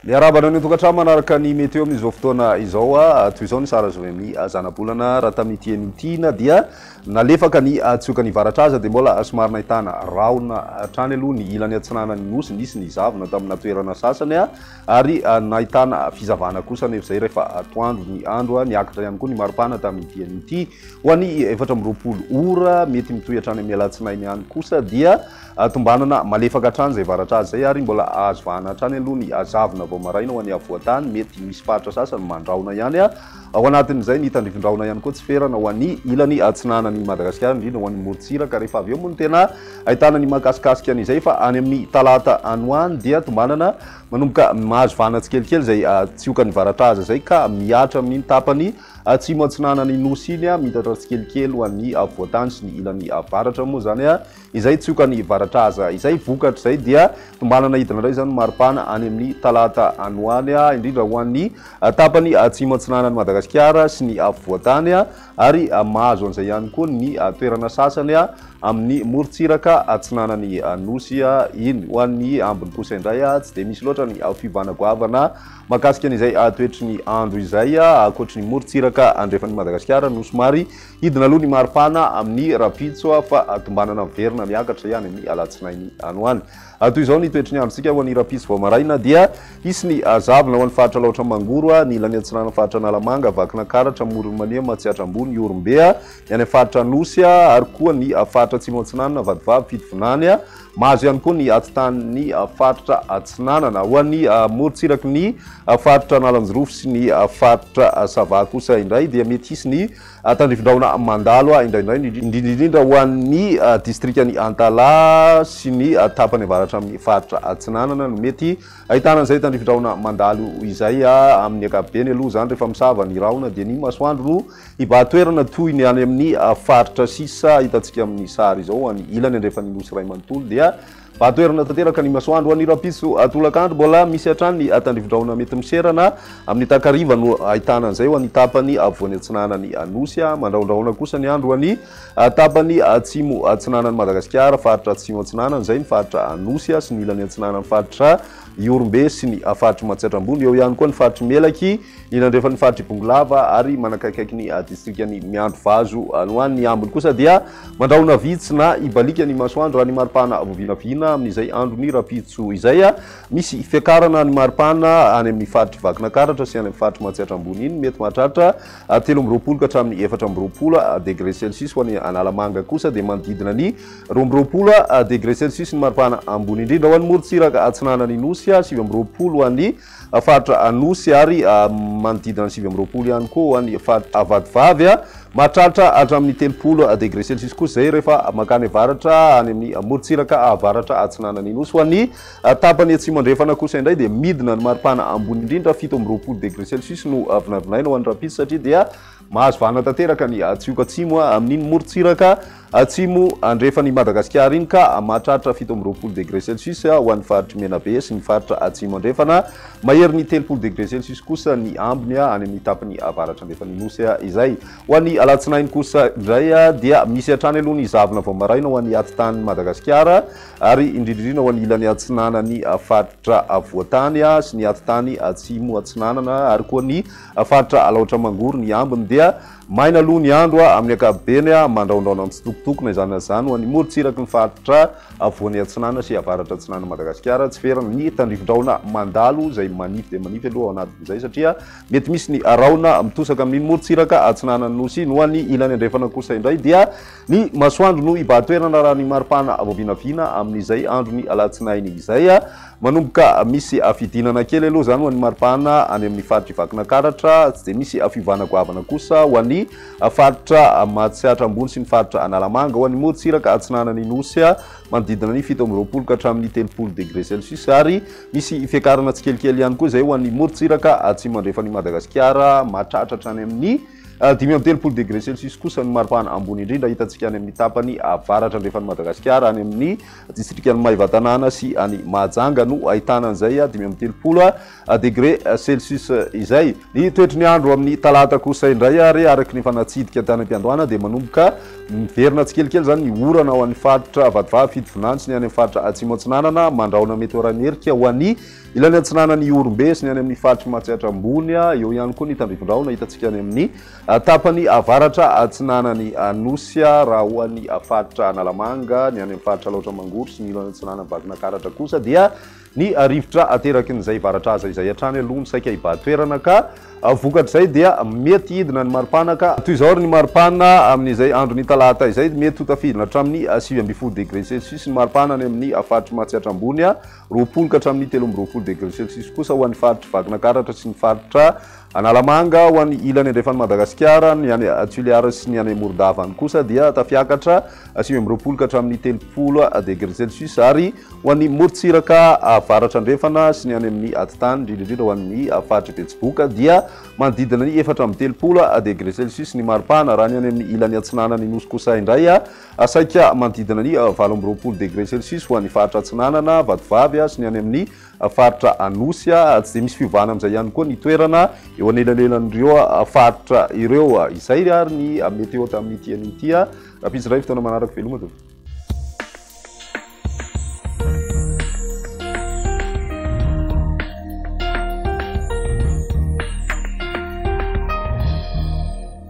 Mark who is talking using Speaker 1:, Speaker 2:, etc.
Speaker 1: Miarahaba anao ny tokantrano manaraka ny météo amin'izao fotoana izao a ah, toy izao ny sara Zoemi ah, zanabolana raha tamin'ity enitiana dia nalefaka ny ah, tsioka ny varatra aza dia mbola somary nahitana rahona hatrany aloha ny ilany atsinanan'ny nosy nisy ny zavona tamina toerana sasany a Ary nahitana fizavana kosa anefa izay rehefa atoandro ny andro. Niakatra ihany koa ny maripana tamin'ity diany ity. Ho an'ny efatra amby roapolo ora, mety mitohy hatrany amin'ny alatsinainy ihany kosa dia tombanana malefaka hatrany izay varatra azy izay ary mbola ahazo vahana hatrany aloha ny hazavona vao maraina ho an'ny afovoan-tany. Mety misy faritra sasany mandrahona ihany. Ao anatin'izay ny tandrifindrahona ihany koa tsy ferana ho an'ny ilany atsinanan'i Madagasikara, indrindra ho an'ny morontsiraka, rehefa avy eo moa no tena ahitana ny mahakasikasika an'izay fa any amin'ny talata any ho any dia tombanana manomboka mahazo vahana tsikelikely izay tsiokan'i Varataza izay ka mihatra amin'iny tapany atsimo-atsinanan'ny Nosy iny, miitatra tsikelikely ho an'ny afovoantany sy ny ilany avaratra moa izany. izay tsy oka ny varatra aza. Izay vokatra izay dia tombanana hidina indray izany maripana any amin'ny talata any ho any, indrindra ho an'ny tapany atsimo atsinanan'i Madagasikara sy ny afovoantany ary mahazo an'izay ihany koa ny toerana sasany amin'ny morontsiraka atsinanan'ny Nosy iny. Ho an'ny ambiny kosa indray tsy dia misy loatra ny fiovana goavana mahakasika an'izay toetry ny andro izay, ankoatry ny morontsiraka andrefan'i Madagasikara no somary Hidina aloha ny maripana amin'ny rahampitso fa tombanana miverina miakatra ihany amin'ny alatsinainy any ho any. Toy izao ny toetry ny androntsika ho an'ny rahampitso vao maraina dia hisy ny zavona ho an'ny faritra Alaotra Mangoro, ny ilany atsinanan'ny faritra Analamanga, Vakinankaratra, Amoron'i Mania, Matsiatra Ambony, Ihorombe, ny any amin'ny faritra Anosy ary koa ny faritra Atsimo Atsinanana, Vatovavy, Fitovinany. Mahazo ihany koa ny atsitanin'ny faritra Atsinanana. Ho an'ny morontsiraky ny faritra Analanjirofo sy ny faritra Sava kosa indray dia mety hisy ny Tandrifindrahona mandalo ahy indraindray, indrindraindrindra ho an'ny distrikan'i Antalaha sy ny tapany avaratra amin'ny faritra Atsinanana no mety ahitana an'izay tandrifindrahona mandalo izay. Amin'ny ankapobeny aloha izany rehefa misava ny rahona dia ny masoandro no hibahan-toerana toy ny any amin'ny faritra sisa hitantsika amin'ny sary izao. Any ilany andrefan'ny Nosy iray manontolo dia. Vato erona tanteraka ny masoandro any Rapiso tolakandro. Mbola misy hatrany ny tandrivo-drahona mety miserana. Amin'ny takariva no ahitana an'izay ho an'ny tapany afovoany atsinanan'ny Nosy. Mandrahondrahona kosa ny andro ho an'ny tapany atsimo atsinanan'i Madagasikara, faritra atsimo atsinanana izay ny faritra Anosy sy ny ilany atsinanan'ny faritra Ihorombe sy ny faritr'i Matsiatra Ambony. Eo ihany koa ny faritr'i Melaky. Eny andrefan'ny faritr'i Bongolava ary manakaikaiky ny distrikan'i Miandrivazo any ho any ny ambiny kosa dia mandrahona vitsy na ibaliaka ny masoandro raha ny maripana vao vinavina amin'izay andron'ny rahampitso izay. Misy fiakarana ny maripana any amin'ny faritr'i Vakinakaratra sy any amin'ny faritr'i Matsiatra Ambony iny, mety mahatratra telo amby roapolo ka hatramin'ny efatra amby roapolo degre celsius. Ho any Analamanga kosa dia manodidina ny roa amby roapolo degre celsius ny maripana ambony indrindra. Ho any Morontsiraka Atsinanan'ny Nosy, sivy amby roapolo ho any faritra Anosy ary manodidina ny sivy amby roapolo ihany koa ny faritra Vatovavy. Mahatratra hatramin'ny telopolo degré celsius kosa izay rehefa mankany avaratra any amin'ny morontsiraka avaratra atsinanan'ny Nosy. Ho an'ny tapany atsimo-andrefana kosa indray dia midina ny maripana ambony indrindra, fito amby roapolo degré celsius no vinavinaina ho an'ny Rampitso satria dia Mahazo vahana tanteraka ny Hatsioko Atsimo amin'iny morontsiraka atsimo andrefan' i Madagasikara iny ka mahatratra fito amby roapolo degre celsius ho an'ny faritr'i Menabe sy ny faritra atsimo andrefana. Maherin'ny telopolo degre celsius kosa ny ambiny any amin'ny tapany avaratra andrefan'ny Nosy izay. Ho an'ny alatsinainy kosa indray dia misy hatrany aloha ny zavona vao maraina ho an'ny atidanin'i Madagasikara ary indrindrindrina ho an'ny ilany atsinanan'ny faritra Voatany sy ny atitany atsimo atsinanana ary koa ny Faritra Alaotra Mangoro ny ambiny dia maina aloha ny andro amin'ny ankapobeny, mandraondraona mitsitokotokona izany na izany ho an'ny morontsiraky ny faritra Afovoany Atsinanana sy Avaratra Atsinanan'i Madagasikara. Tsy feran'ny ny tandrifindraona mandalo izay manify dia manify aloha ao anatin'izay satria mety misy ny rahona mitosaka amin'ny morontsiraka Atsinanan'ny Nosy. No any ilany andrefana kosa indray dia ny masoandro no hibahan-toerana raha ny maripana vao vinavina amin'izay andron'ny alatsinainy izay. Manomboka misy fidinana kely aloha izany ho an'ny mari-pahana any amin'ny faritr'i Vakinakaratra, tsy dia misy fiovana goavana kosa ho an'ny faritra Matsiatra Ambony sy ny faritra Analamanga. Ho an'ny morontsiraka atsinanan'ny Nosy, manodidina ny fito amby roapolo ka hatramin'ny telopolo degre celsius ary misy fiakarana tsikelikely ihany koa izay ho an'ny morontsiraka atsimo andrefan'i Madagasikara, mahatratra hatrany amin'ny dimy amby telopolo degre celsius kosa ny mari-pahana ambony indrindra hitantsika any amin'ny tapany avaratra andrefan'i Madagasikara, any amin'ny Distrikan'i Maevatanàna sy any Mahajanga no ahitana an'izay dimy amby telopolo degre celsius izay. Ny toetry ny andro amin'ny talata kosa indray ary araka ny efa natsidika tany am-piandohana dia manomboka miverina tsikelikely izany ny orana ho an'ny faritra Vatovavy, Fitovinany sy ny any amin'ny faritra Atsimo Atsinanana mandrahona mety ho ara-nerika ho an'ny ilany Atsinanana Ihorombe sy ny any amin'ny faritry Matsiatra Ambony. Eo ihany koa ny tandrifondrahona hitantsika any amin'ny. Tapany avaratra atsinanan'i Anosy, raha ho an'ny faritra Analamanga, ny any amin'ny faritra Alaotra Mangoro sy ny ilany atsinanan'i Vakinankaratra kosa dia ny rivotra ateraky ny zaivaratrazay izay hatrany aloha no saika hibaha toerana ka vokatr'izay dia mety hidina ny maripanaka. Toy izao ary ny maripana amin'izay andron'ny talata izay, mety ho tafidina hatramin'ny sivy ambin'ny folo degré celsius ny maripana any amin'ny faritr'i Matsiatra Ambony, roapolo ka hatramin'ny telo amby roapolo degré celsius kosa ho an'ny faritr'i Vakinankaratra sy ny faritra Analamanga ho any ilany andrefan'i Madagasikara, ny any Toliara sy ny any Morondavany kosa dia tafiakatra sivy amby roapolo ka hatramin'ny telopolo degre celsius ary ho any morontsiraka avaratra andrefana sy ny any amin'ny atitany indrindra indrindra ho an'ny faritry Betsiboka dia manodidina ny efatra amby telopolo degre celsius ny maripana raha ny any amin'ny ilany atsinanan'ny Nosy kosa indray saika manodidina ny valo amby roapolo degre celsius ho an'ny faritra atsinanana Vatovavy sy ny any amin'ny faritra Anosy tsy dia misy fiovana amin'izay ihany koa ny toerana eo anelanelan'ireo faritra ireo. Izay ary ny météo tamin'ity anio ity. Rahampitso iray fotoana manaraka veloma tompoko.